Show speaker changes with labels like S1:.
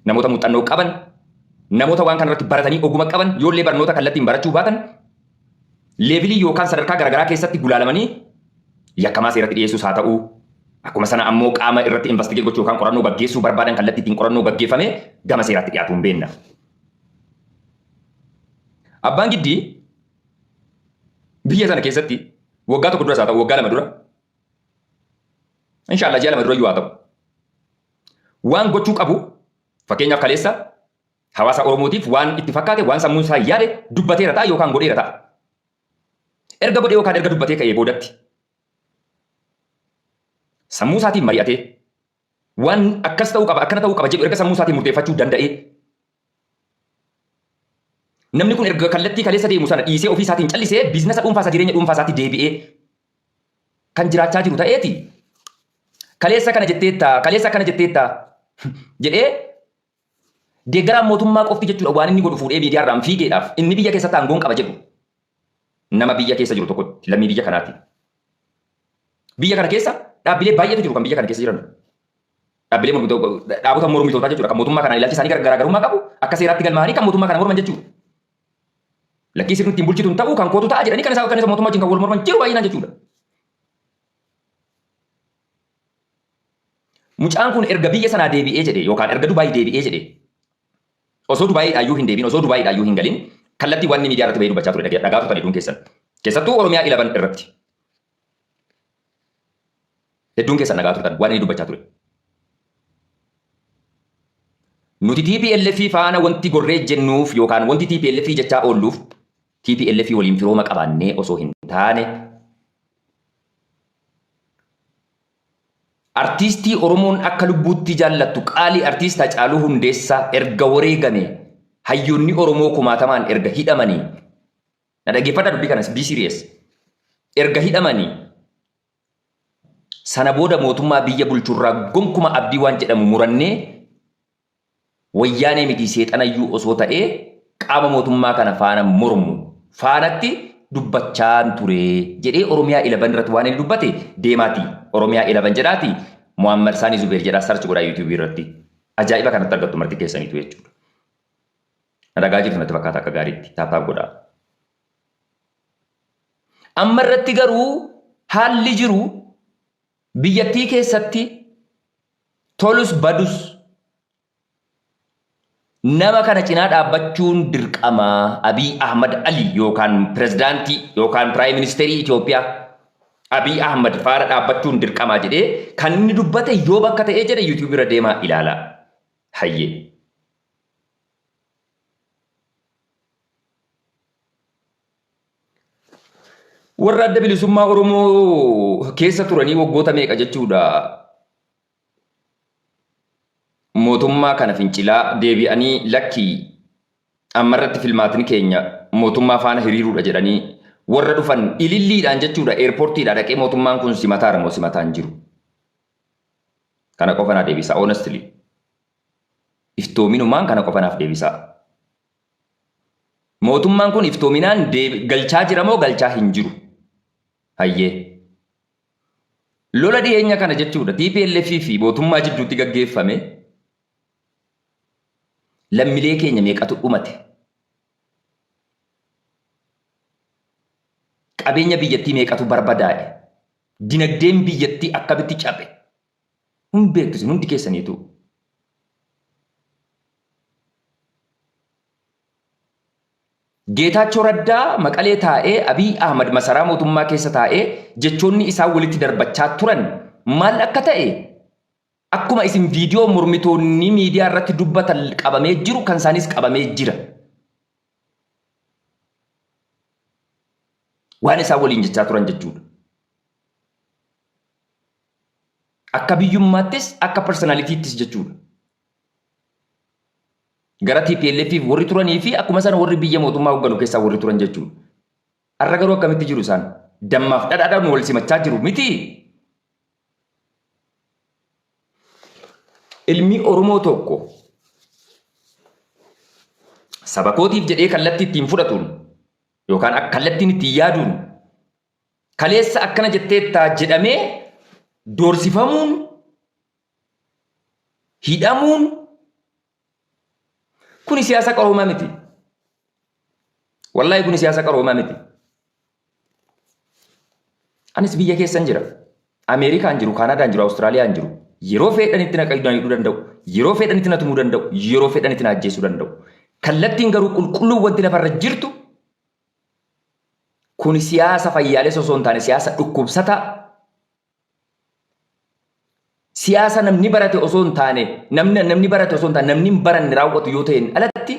S1: Namoota muuxxannoo qaban, namoota waan kanarratti baratanii oguma qaban yoollee barnoota kallattiin barachuu baatan leevilii yookaan sadarkaa garagaraa keessatti gulaalamanii yakkamaa seeratti dhiyeessuus haa ta'uu akkuma sana ammoo qaama irratti investigate gochuu yookaan qorannoo gaggeessuu barbaadan kallattii ittiin qorannoo gaggeeffamee gama seeraatti dhiyaatu hin beenna. Abbaan giddii biyya sana keessatti waggaa tokko duras haa ta'u waggaa lama dura inshaallah ji'a lama dura iyyuu haa ta'u Waan gochuu qabu fakkeenyaaf kaleessa hawaasa Oromootiif waan itti fakkaate waan sammuun isaa yaade dubbateera ta'a yookaan godheera ta'a. Erga godhee yookaan erga dubbatee ka'ee boodatti sammuu isaatiin mari'atee waan akkas ta'uu qaba akkana ta'uu qaba jedhu erga sammuu isaatiin murteeffachuu danda'ee Namni kun erga kallattii kaleessa deemu sana dhiisee ofii isaatiin callisee biiznasa dhuunfaa isaa jireenya dhuunfaa isaatti deebi'ee kan jiraachaa jiru ta'eeti kaleessa kana jetteetta kaleessa akkana jetteetta jedhee deeggaraan mootummaa qofti jechuudha waan inni godhu fuudhee miidiyaarraan fiigeedhaaf inni biyya keessatti aangoon qaba jedhu. nama biyya keessa jiru tokkotti lammii biyya kanaati. Biyya kana keessa dhaabbilee baay'eetu jiru kan biyya kana keessa jiran. Dhaabbilee mormitoota dhaabota mormitootaa jechuudha kan mootummaa kanaan ilaalchi isaanii garaagarummaa qabu akka seeraatti galmaa'anii kan mootummaa kana morman jechuudha. Lakkii sirni ittiin bulchitu hin ta'u kan kootu ta'a jedhanii kan isaa kan isa mootummaa wajjin kan wal morman jiru baay'inaan jechuudha. Mucaan kun erga biyya sanaa deebi'ee jedhe yookaan erga Dubaay deebi'ee jedhe Osoo Dubaayii dhaayyuu hin deebiin osoo Dubaayii dhaayyuu hin galin kallattii waan inni miidiyaa irratti bahee dubbachaa ture dhagee dhagaa turtan hedduun keessan. Keessattuu Oromiyaa 11 irratti. Hedduun keessan dhagaa turtan waan inni dubbachaa ture. Nuti TPLF faana wanti gorree jennuuf yookaan wanti TPLF jechaa oolluuf TPLF waliin firooma qabaannee osoo hin taane Artiistii Oromoon akka lubbuuttii jaallattu qaalii Artiist Hacaaluu Hundeessaa erga wareegamee, hayyoonni Oromoo kumaatamaan erga hidhamanii, na dhaggeeffadhaa dubbii kanas be serious, erga hidhamanii, sana booda mootummaa biyya bulchurraa gonkuma abdii waan jedhamu murannee, Wayyaanee mitii seexanayyuu osoo ta'ee qaama mootummaa kana faana mormu faanatti dubbachaan ture jedhee Oromiyaa 11 irratti waan inni dubbate deemaatii Oromiyaa 11 jedhaatii Muhammad Saanii Zubeer jedhaa search godhaa YouTube irratti ajaa'iba kanatti argattu marti keessaniitu jechuudha. Na dhagaa jirtu natti fakkaata akka gaariitti taaptaap godhaa. Amma irratti garuu haalli jiru Biyyattii keessatti tolus badus nama kana cinaa dhaabbachuun dirqama Abiy Ahmad Ali yookaan pirezidaantii yookaan piraayim ministeerii Itoophiyaa Abiy Ahmad faana dhaabbachuun dirqama jedhee kan inni dubbate yoo bakka ta'ee jedhe yuutuubii irra deemaa ilaalaa. Hayyee. Warra adda bilisummaa Oromoo keessa turanii waggoota meeqa jechuudha mootummaa kana fincilaa deebi'anii lakkii ammarratti filmaatni keenya mootummaa faana hiriiruudha jedhanii warra dhufan ililliidhaan jechuudha eerpoortiidhaa dhaqee mootummaan kun simataara moo simataan jiru. Kana qofa naa deebisaa honestly. Iftoominumaan kana qofa naaf deebisaa. Mootummaan kun iftoominaan galchaa jira moo galchaa hin jiru? Hayyee. Lola dhiyeenya kana jechuudha TPLF fi mootummaa jidduutti gaggeeffame lammilee keenya meeqatu dhumate? Qabeenya biyyattii meeqatu barbadaa'e? Dinagdeen biyyattii akkamitti cabe? Hin beektu isin hundi keessaniituu. Geetaachoo Raddaa Maqalee taa'ee Abiy Ahmad masaraa mootummaa keessa taa'ee jechoonni isaan walitti darbachaa turan maal akka ta'e akkuma isin viidiyoo mormitoonni miidiyaa irratti dubbatan qabamee jiru kan isaanis qabamee jira. Waan isaan waliin jechaa turan jechuudha. Akka biyyummaattis akka parsanalitiittis jechuudha. Gara TPLFif warri turanii fi akkuma sana warri biyya mootummaa hogganu keessaa warri turan jechuudha. Har'a garuu akkamitti jiru isaan? Dammaaf dhadhaadhaan wal simachaa jiru miti. Ilmi Oromoo tokko saba kootiif jedhee kallattii ittiin fudhatuun yookaan kallattiin ittiin yaaduun kaleessa akkana jetteetta jedhamee doorsifamuun, hidhamuun kuni siyaasa qaroomaa miti. Wallaahi kuni siyaasa qaroomaa miti. Anis biyya keessan jira. Ameerikaan jiru, Kaanaadaan jiru, Awustiraaliyaan jiru. Yeroo fedhanitti na qayyaduu danda'u. Yeroo fedhanitti na tumuu danda'u. Yeroo fedhanitti na ajjeesuu danda'u. Kallattiin garuu qulqulluun wanti lafarra jirtu Kuni siyaasa fayyaalessa osoo hin taane siyaasa dhukkubsataa, siyaasa namni barate osoo hin taane namni namni barate osoo hin taane namni hin baranne raawwatu yoo ta'een alatti